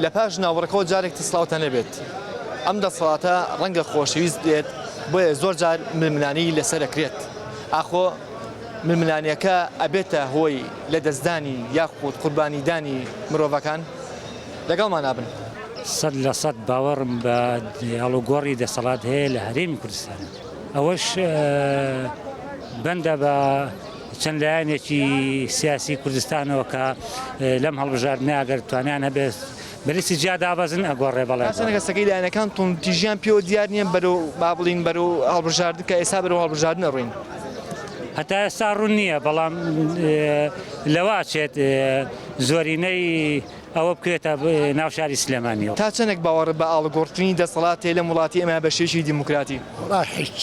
لە پاش ناوبڕەکەوە جارێک تر سڵاوتان لێبێت. ئەم دەسەڵاتە ڕەنگە خۆشەویست بێت، بۆیە زۆر جار ململانێی لەسەر ئەکرێت ئاخۆ ململانێکە ئەبێتە هۆی لە دەستدانی یاخود قوربانیدانی مرۆڤەکان؟ لەگەڵمانا بن. سەد لە سەد باوەڕم بە ئاڵوگۆڕی دەسەڵات هەیە لە هەرێمی کوردستان، ئەوەش بەندە بە چەند لایەنێکی سیاسی کوردستانەوە کە لەم هەڵبژاردنە ئەگەر توانیان هەبێت بەلیستی جیا دابەزن ئەگۆڕێ بەڵێ سەنەگەسەکەی لایەنەکان تونتیژیان پێوە دیار نییە بەرەو با بڵین بەرەو هەڵبژاردن کە ئێستا بەرەو هەڵبژاردنە ڕوین هەتا ئێستا ڕوون نییە بەڵام لەواچێت زۆرینەی ئەوە بکرێتە ناوشاری سلێمانیەوە تا چەندێک باوەڕ بە ئاڵگۆڕتنی دەسەڵاتێ لەم وڵاتی ئەمە بەشێکی دیموکراتی هیچ.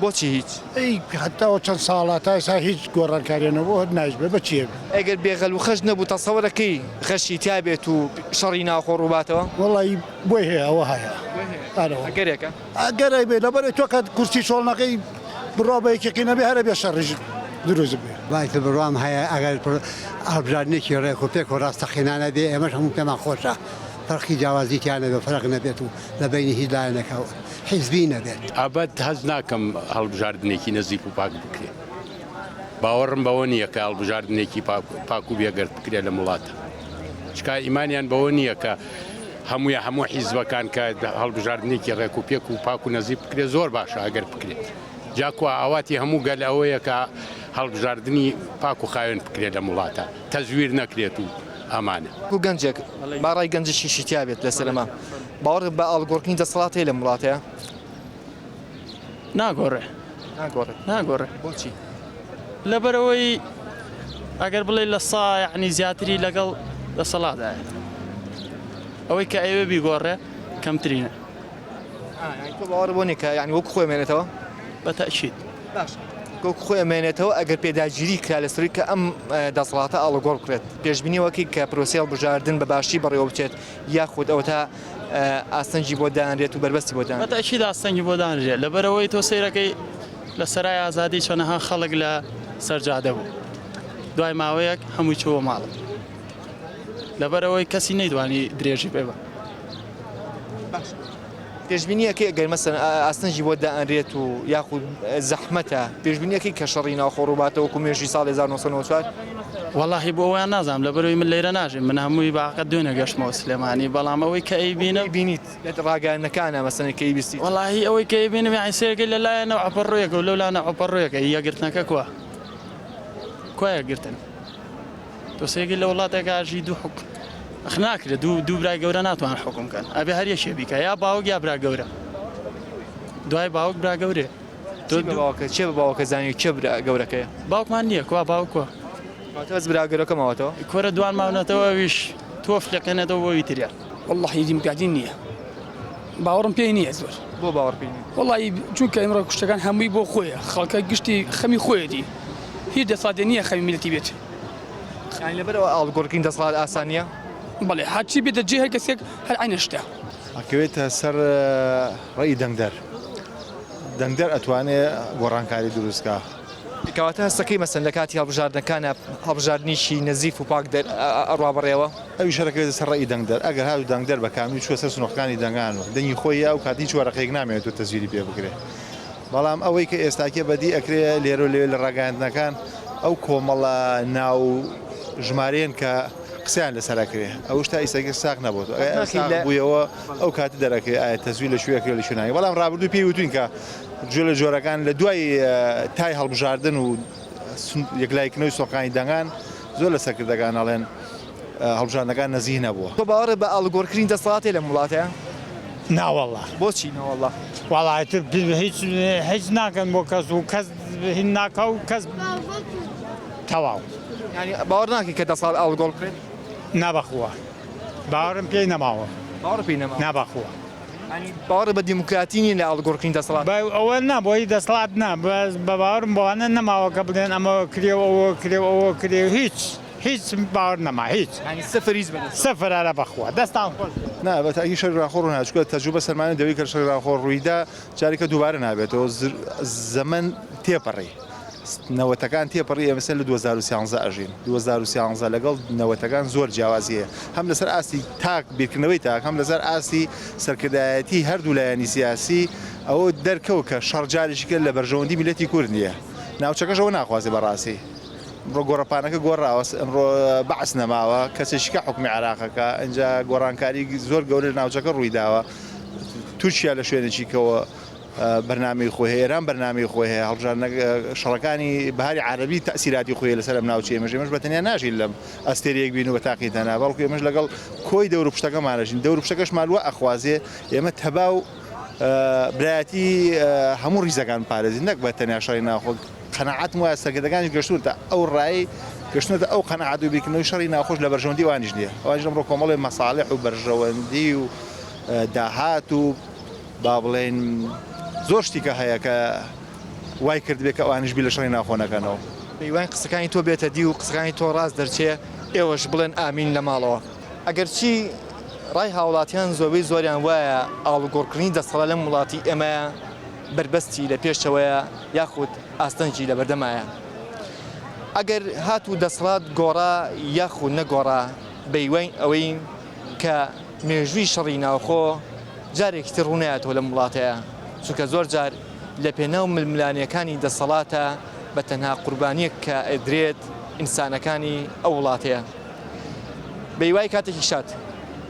بۆچی هیچ؟ ئەی هەتا وە چەند ساڵە تا ئێستا هیچ گۆڕانکاریە نەبوو هەر نایش بێ بە چیە بێ. ئەگەر بێ غەل وخەش نەبوو تەسەوەرە کەی غەشی تیابێت و شەڕی ناوخۆ ڕووباتەوە؟ وەڵایی بۆی هەیە ئەوە هەیە ئەرە وەڵا. ئەگەرێکە. ئەگەرێک بێ لەبەرئەوەی تۆ کە کورسی چۆڵ نەکەی بڕوا بە یەکێکی نەبێ هەرە بێ شەڕیش دروست بێ. وای تر بڕوام هەیە ئەگەر هەڵبژاردنێکی ڕێک و پێک و ڕاستەقینانە بێ ئێمەش هەموو پێمان خۆشە فەرقی جیاوازی تیا نەبێ و فەرق نەبێت و لە بەینی هیچ لایەنەکە حیزبی نەبێت. ئەبەد هەست ناکەم هەڵبژاردنێکی نەزیف و پاک بکرێت. باوەڕم بەوە نییە کە هەڵبژاردنێکی پاک و بێگەرد بکرێت لەم وڵاتە. چکا ئیمانیان بەوە نییە کە هەمووی هەموو حیزبەکان کە هەڵبژاردنێکی ڕێک و پێک و پاک و نەزیف بکرێت زۆر باشە ئەگەر بکرێت. جا کوا ئاواتی هەموو گەل ئەوەیە کە هەڵبژاردنی پاک و خاوێن بکرێت لەم وڵاتە. تەزویر نەکرێت و ئامانە. گو گەنجێک با ڕای گەنجێکیشی تیا بێت لەسەر ئەمە. باوەڕت بە ئاڵگۆڕتنی دەسەڵات هەیە لەم وڵاتەیا؟ ناگۆڕێ. ناگۆڕێ. ناگۆڕێ. بۆچی؟ لەبەرئەوەی ئەگەر بڵێی لە سا یەعنی زیاتری لەگەڵ دەسەڵاتدایە. ئەوەی کە ئەیەوێ بیگۆڕێ کەمترینە. ئا یانی تۆ باوەڕت بەوە نییە کە یانی وەکو خۆی بمێنێتەوە؟ بەتەئکید. وەک خۆی ئەمێنێتەوە ئەگەر پێداگیری کرا لەسەرووی کە ئەم دەسەڵاتە ئاڵوگۆڕ بکرێت، پێشبینی وەکەی کە پرۆسەی هەڵبژاردن بە باشی بەڕێوە بچێت یاخود ئەوەتا ئاستەنگی بۆ دانرێت و بەربەستی بۆ دانرێت؟ بەتەئکید ئاستەنگی بۆ دانرێت لەبەرئەوەی تۆ سەیرەکەی لە سەرای ئازادی چەنەها خەڵک لە سەرجادە بوو دوای ماوەیەک هەمووی چووە ماڵ لەبەرئەوەی کەسی نەیدوانی درێژی بێ بە. پێشبینی ئەکەی ئەگەر مەسەلەن ئاستەنگی بۆ دائەنرێت و یاخود زەحمەتە پێشبینی ئەکەی کە شەڕی ناوخۆ ڕووباتەوە کو مێژوی ساڵ 1994 وەڵاهی بۆ ئەوەیان نازانم لەبەرەوەی من لەیرە ناژیم من هەمووی باقە دوێنێ گەشتمەوە سلێمانی بەڵام ئەوەی کە ئەیبینم ئەوەی بینیت لە ڕاگەیاندنەکانە مەسەلەن کەی بیستیت وەڵاهی ئەوەی کە ئەیبینم یانی سەیرەکەی لەلایەنە عەپەڕۆیەکە و لەولانە عەپەڕۆیەکە یەکگرتنەکە کوا کوا یەکگرتن دۆسێگە لە وڵاتێکا ژی دوو حوک ئەخ ناکرێ دوو دوو برای گەورە ناتوان حکم کەن ئەبێ هەر یەکێ بیکە یا باوک یا برا گەورە دوای باوک برا گەورێ چی بە باوکە چێ بە باوکە زانانی کێ برا گەورەکەیە باوکمان نییە کوا باوکوە واتە بەس برا گەورەکە ماوەتەوە کۆرە دوان ماونەتەوە ویش تۆف لەکەنێتەوە بۆ ویتریا والله هیدیم گادین نییە باوەڕم پێی نییە زۆر بۆ باوەڕ پێی نییە وڵی چونکە ئمڕۆ کوشتەکان هەمووی بۆ خۆیە خەڵکە گشتی خەمی خۆیەتی هیچ دەسادێ نییە خەمی میلتی بێت یانی لەبەر ئەوە ئاڵوگۆڕکردنی دەسەڵات ئاسان نییە؟ بەڵێ، هەرچی بێتە جێ، هەر کەسێک هەر عەینەن شتە. ئەکەوێتە سەر ڕێی دەنگدەر، دەنگدەر ئەتوانێ گۆڕانکاری دروست کا. کەواتە هەستەکەی مەسەن لە کاتی هەڵبژاردنەکانا هەڵبژاردنیکی نەزیف و پاک ئەڕوا بەڕێوە؟ ئەویش هەر ئەکەوێتە سەر ڕێی دەنگدەر، ئەگەر هاتوو دەنگدەر بە کاملی چووە سەر سنووڕەکانی دەنگان و دەنگی خۆی یا ئەو کات هیچ وەرەقێک نامێنێت و تەزویری پێ بکرێ. بەڵام ئەوەی کە ئێستاکێ بەدی ئەکرێ لێرە و لەوێ لە ڕاگەیاندنەکان ئەو کۆمەڵە ناو و ژمارەیەن کە قسەیان لەسەر ئەکرێ ئەوش تا ئیستاکێ ساغ نەبۆتەوە ئەگەر ئەوە ساغ بوویەوە ئەو کاتە دەرئەکرێ ئایا تەزویر لە کوێ ئەکرێ و لە کوێ ناکرێ بەڵام ڕابردوو پێی وتووین کە جۆلە جۆرەکان لە دوای تای هەڵبژاردن و یەکلاییکردنەوەی سۆنقەکانی دەنگان زۆر لە سەرکردەکان ئەڵێن هەڵبژاردنەکان نەزیه نەبووە. تۆ باوەڕت بە ئاڵوگۆڕکرین دەسەڵاتەی لەم وڵاتەیە؟ ناوەڵا. بۆچی ناوەڵا؟ وەڵا ئیتر هیچ هیچ ناکەن بۆ کەس و کەس هین ناکا و کەس تەواو. یانی باوەڕ ناکەی کە دەسەڵات ئاڵوگۆڕ بکرێت؟ نا بەخوا باوەڕم پێی نەماوە. باوەڕت پێی نەماوە؟ نا بەخوا. یانی باوەڕت بە دیموکراتی نییە لە ئاڵوگۆڕکرین دەسەڵات؟ بە ئەوە نا بۆ هی دەسەڵات نا بەس بە باوەڕم بەوانە نەماوە کە بڵێن ئەمە کرێ و ئەوە کرێ و ئەوە کرێ و هیچ. هیچ باوەر نەما هیچ یعنی سفر هیچ بەدەست نەما. سفر ئەرە بەخوا دەستان خۆش بێ. نا بە تاکی شەری ڕاخۆ ڕوو نادا چونکە تەجروبە سەلماندی دەوەی کە شەری ڕاخۆ ڕوویدا جاریکە دووبارە نابێتەوە زەمەن تێپەڕی نەوەتەکان تێپەڕی ئێمە سەر لە دوو هەزار و سیانزە ئەژین دوو هەزار و سیانزە لەگەڵ نەوەتەکان زۆر جیاوازی هەیە هەم لەسەر ئاستی تاک بیرکردنەوەی تاک هەم لەسەر ئاستی سەرکردایەتی هەردوو لایەنی سیاسی ئەوە دەرکەوت کە شەڕ جاریشی کرد لە بەرژەوەندی میللەتی کورد نییە ناوچەکەش ئەوە ناخوازێ بەڕاستی ئمڕۆ گۆڕەپانەکە گۆڕاوە ئمڕۆ بەعس نەماوە کەچی شکا حکومی عراقەکە ئەجا گۆڕانکاری زۆر گەورە لە ناوچەکە ڕوویداوە تورکیا لە شوێنێکی کەەوە بەرنامی خۆی ئێران بەرنامی خۆی هەیە هەڵژان شەڕەکانی باری عربی تاسیراتی خۆی لەسەر ئەم ناوچەیە مەژێ مەش بەتەنیا ناژین لەم ئەستێریەک بین و بە تاقی تەنا بەڵکو ئێمەش لەگەڵ کۆی دەور پشتەکەمانەژین دەور پشتەکەش مالوە ئەخوازێ ئێمە تەبا و برایەتی هەموو ریزەکان پارێزی نەک بە تەنیا شەڕی ناخۆک قەناعەتم وایە سەرکردەکانیش گەشتوونەتە ئەو ڕای، گەشتوونەتە ئەو قەناعەت و بیرکردنەوەی شەڕی ناوخۆش لە بەرژەوەندی ئەوانیش نییە، ئەوانیش ئەمڕۆ کۆمەڵێ مەساڵیح و بەرژەوەندی و داهات و با بڵێین زۆر شتی کە هەیە کە وای کردبێ کە ئەوانیش بیر لە شەڕی ناوخۆ نەکەنەوە. هیواین قسەکانی تۆ بێتە دی و قسەکانی تۆ ڕاست دەرچێ، ئێوەش بڵێن ئامین لە ماڵەوە. ئەگەرچی ڕای هاوڵاتیان زۆربەی زۆریان وایە ئاڵوگۆڕکردنی دەسەڵات لەم وڵاتی ئێمەیە، بەربەستی لە پێشەوەیە یاخود ئاستەنگی لە بەردەمایە. ئەگەر هاتوو دەسڵات گۆڕا یاخود نەگۆڕا بەیوەی ئەوەی کە مێژووی شەڕی ناوخۆ جارێکی تر ڕوونایەتەوە لەم وڵاتەیا چونکە زۆر جار لە پێناو ململانێکانی دەسەڵاتە بە تەنها قوربانیەک کە ئەدرێت ئینسانەکانی ئەو وڵاتەیە بەیوای کاتێکی شاد.